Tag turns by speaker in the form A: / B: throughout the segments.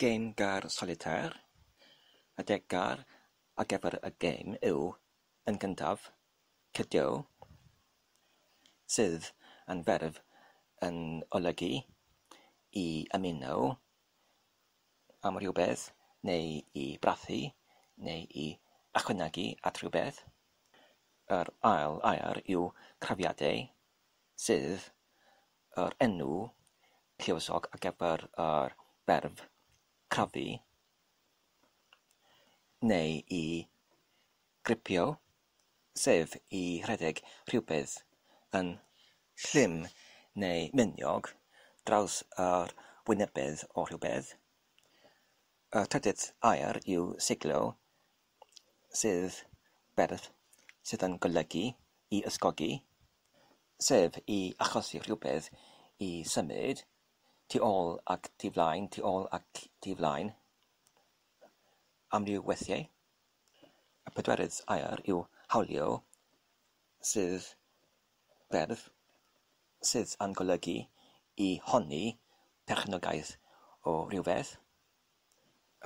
A: Gêm gar solitêr, y deg gar ar gyfer y gêm yw yn gyntaf, cydio, sydd yn ferf yn olygu i ymuno am rywbeth neu i brathu neu i ychwanegu at rywbeth. Yr ail air yw crafiadau, sydd Yr enw lluosog ar gyfer yr ferf crafu neu i gripio, sef i rhedeg rhywbeth yn llym neu miniog draws yr wynebedd o rhywbeth. Y trydydd air yw seiglo, sydd berth sydd yn golygu i ysgogi, sef i achosi rhywbeth i symud tu ôl ac tu flaen, tu ôl ac tu flaen. Amryw weithiau, y pedwerydd air yw hawlio, sydd berf sydd yn golygu i honni perchnogaeth o rywbeth.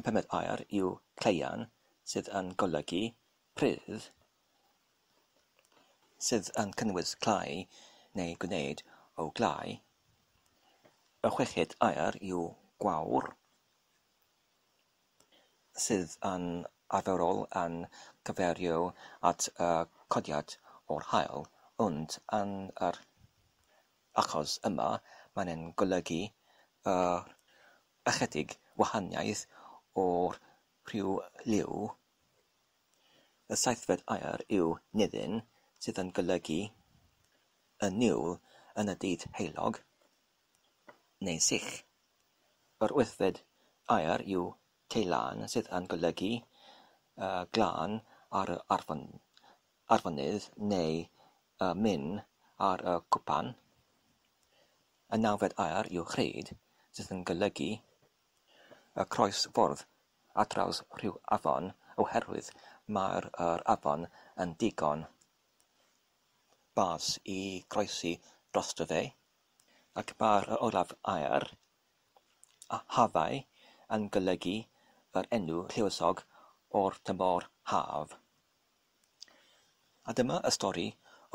A: Y pumed air yw cleian, sydd yn golygu prudd, sydd yn cynnwys clau neu gwneud o glau. Y chweched air yw gwawr, sydd yn arferol yn cyfeirio at y codiad o'r haul, ond yn yr achos yma, mae'n ein golygu ychydig wahaniaeth o'r rhyw liw, y seithfed air yw nidyn, sydd yn golygu y niwl yn y dydd heulog, neu sych. Yr wythfed air yw teilân, sydd yn golygu glân ar yr afon. arweinydd neu y min ar y cwpan, y nawfed air yw rhaid, sydd yn golygu y croesffordd ar draws rhyw afon oherwydd mae'r yr afon yn ddigon bas i groesi drosto fe, ac mae'r yr olaf air, a hafau, yn golygu yr enw lluosog o'r tymor haf. A dyma y stori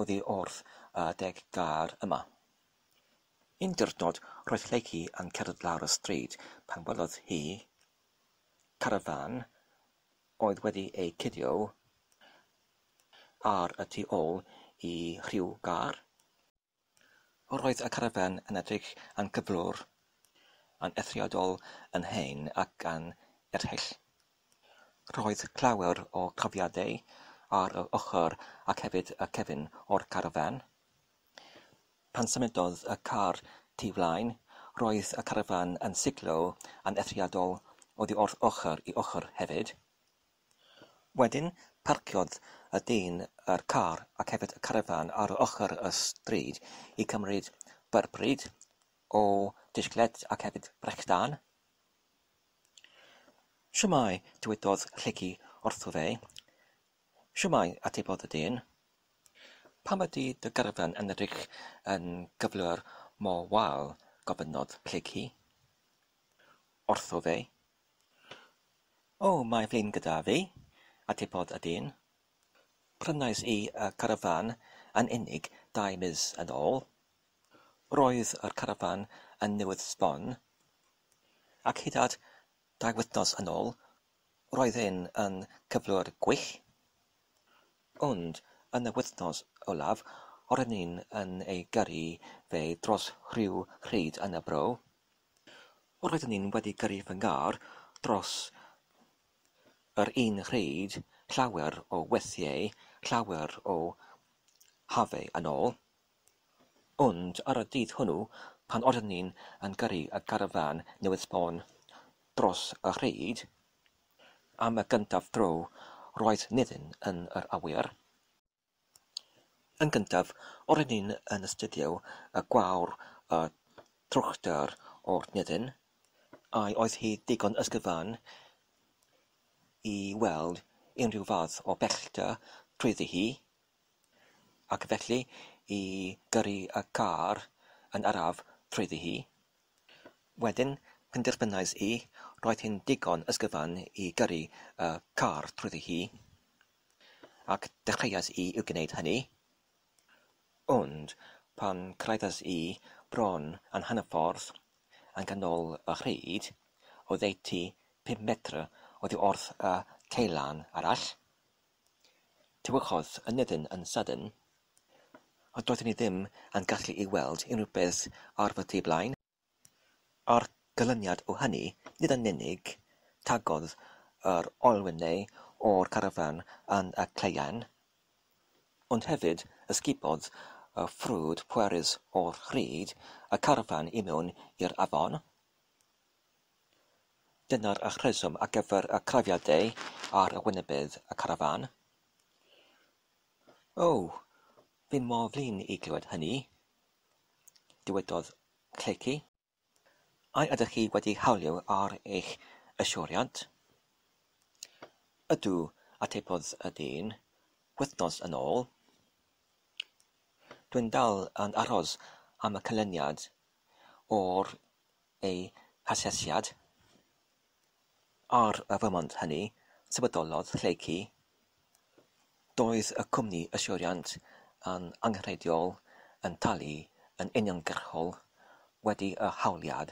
A: oddi wrth y deg gair yma. Un diwrnod roedd Lleucu yn cerdded lawr y stryd pan welodd hi carafán oedd wedi eu cuddio ar y tu ôl i rhyw gar. Roedd y carafán yn edrych yn gyflwr, yn eithriadol yn hen ac yn erchyll. Roedd llawer o chafiadau ar yr ochr ac hefyd y cefn o'r carafán. Pan symudodd y car tu flaen, roedd y carafán yn siglo yn eithriadol oddi wrth ochr i ochr hefyd. Wedyn, parciodd y dyn y car ac hefyd y carafán ar ochr y stryd i gymryd byrbryd o disgled ac hefyd brechdan. Shwmae, dywedodd Rhegi wrtho fe. Shwmae, atebodd y dyn. Pam ydy dy garafán yn edrych yn gyflwr mor wael? gofynnodd Rhegi wrtho fe. O, mae flin gyda fi, atebodd y dyn. Prynais i y carafán yn unig dau mis yn ôl. Roedd yr carafán yn newydd sbon, ac hyd at dau wythnos yn ôl, roedd e'n yn cyflwr gwych. Ond yn y wythnos olaf, roeddwn i'n ei gyrru fe dros rhyw rhyd yn y bro, Roeddwn i'n wedi gyrru fy ngar dros yr un pryd, llawer o weithiau, llawer o hafau yn ôl, ond ar y dydd hwnnw, pan oeddwn i yn gyrru y garfan newydd sbon dros y rhyd, am y gyntaf dro, roedd Nefyn yn yr awyr. Yn gyntaf, o'r hyn hyn yn astudio y gwawr y trwchtar o'r nethyn, ai oedd hi ddigon ysgyfan i weld unrhyw fath o bellter trwyddi hi, ac felly i gyrru y car yn araf trwyddi hi? Wedyn, penderfynais i, roedd hi'n ddigon ysgyfan i gyrru y car trwyddi hi. Ac dechreuais i i gwneud hynny. Ond pan cyrhaeddes i bron yn hanner ffordd yn ganol y rhyd, oddeutu pum metr oddi wrth y caelan arall, tywychodd y nefyn yn sydyn, a doeddwn i ddim yn gallu i weld unrhyw beth ar fy tu blaen. A'r canlyniad o hynny, nid yn unig tagodd yr olwynau o'r carafán yn y caeau, ond hefyd ysgubodd y ffrwd pwerus o hyd y carafán i mewn i'r afon. Dyna'r rheswm ar gyfer y crafiadau ar wynebydd y carafán. O, fi mor flin i glywed hynny, Dywedodd Clecky, A ydych chi wedi hawlio ar eich yswiriant? Ydw, atebodd y dyn, wythnos yn ôl. Dwi'n dal yn aros am y canlyniad o'r ei hasesiad ar y fymont hynny, sefydlolodd Lleucu. Doedd y cwmni yswiriant yn angenrheidiol yn talu yn uniongyrchol wedi y hawliad.